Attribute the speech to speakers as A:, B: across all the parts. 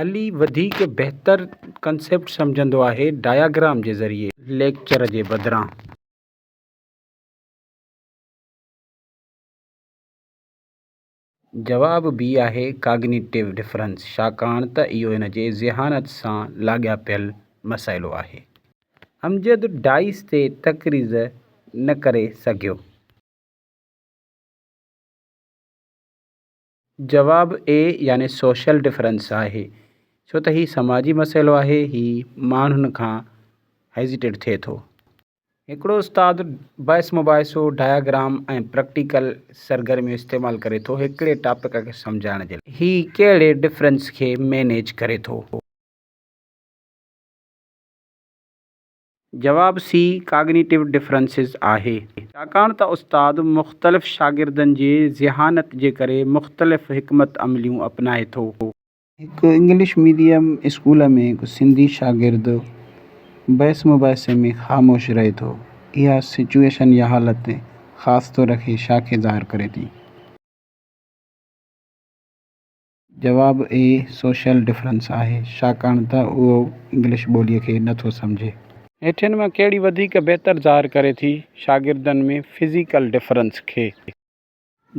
A: علي وڌيڪ بهتر ڪنسيپٽ سمجهندو آهي ڊائگرام جي ذريعي ليڪچر جي بدران. جواب بي آهي ڪاگنيٽو ڊفرنس ڇاڪاڻ ته اهو هن جي ذهانت سان لاڳاپيل مسئلو آهي. امجد ڊائيس تي تقريض نه ڪري سگهيو. جواب، اي يعني سوشل ڊفرنس آهي ڇو ته هي سماجي مسئلو آهي هي ماڻهن کان هيزيٽيڊ ٿئي ٿو. هڪڙو استاد بحث مباحثو، ڊائگرام ۽ پريڪٽيڪل سرگرميون استعمال ڪري ٿو هڪڙي ٽاپڪ کي سمجهائڻ جي لاء. هي ڪهڙي ڊفرنس کي مينيج ڪري ٿو. جواب سي ڪاگنيٽو ڊفرنسز آهي. ڇاڪاڻ ته استاد مختلف شاگردن جي ذهانت جي ڪري مختلف حڪمت عمليون اپنائي ٿو. هڪ انگلش ميڊيم اسڪول ۾ هڪ سنڌي شاگرد بحث مباحثي ۾ خاموش رهي ٿو. اها سچوئيشن يا حالت خاص طور کي شاخي ظاهر ڪري ٿي. جواب، اي سوشل ڊفرنس آهي، ڇاڪاڻ ته اهو انگلش ٻوليء کي نه ٿو سمجهي. هيٺين مان ڪهڙي وڌيڪ بهتر ظاهر ڪري ٿي شاگردن ۾ فزيڪل ڊفرنس کي؟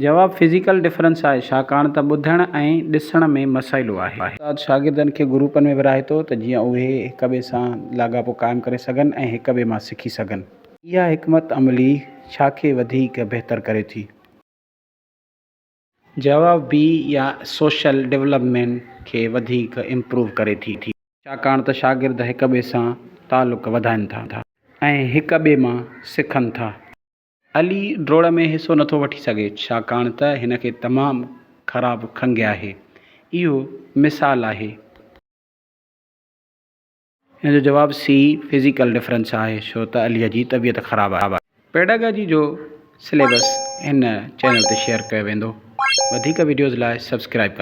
A: جواب، فزيڪل ڊفرنس آهي، ڇاڪاڻ ته ٻڌڻ ۽ ڏسڻ ۾ مسئلو آهي. استاد شاگردن کي گروپن ۾ ورهائي ٿو ته جيئن اهي هڪ ٻئي سان لاڳاپو قائم ڪري سگهن ۽ هڪ ٻئي مان سکي سگهن. اها حڪمت عملي ڇا کي وڌيڪ بهتر ڪري ٿي؟ جواب، بي يا سوشل ڊولپمينٽ کي وڌيڪ امپروو ڪري ٿي، ڇاڪاڻ ته شاگرد هڪ ٻئي سان تعلق وڌائن ٿا ۽ هڪ ٻئي مان سکن ٿا. علي ڊوڙ ۾ حصو نٿو وٺي سگهي ڇاڪاڻ ته هن کي تمام خراب کنگهه آهي. اهو مثال آهي. ان جو جواب سي فزيڪل ڊفرنس آهي ڇو ته عليء جي طبيعت خراب آهي. پيڊاگاجي جو سليبس هن چينل تي شيئر ڪيو ويندو. وڌيڪ وڊيوز لاء سبسڪرائيب ڪندو.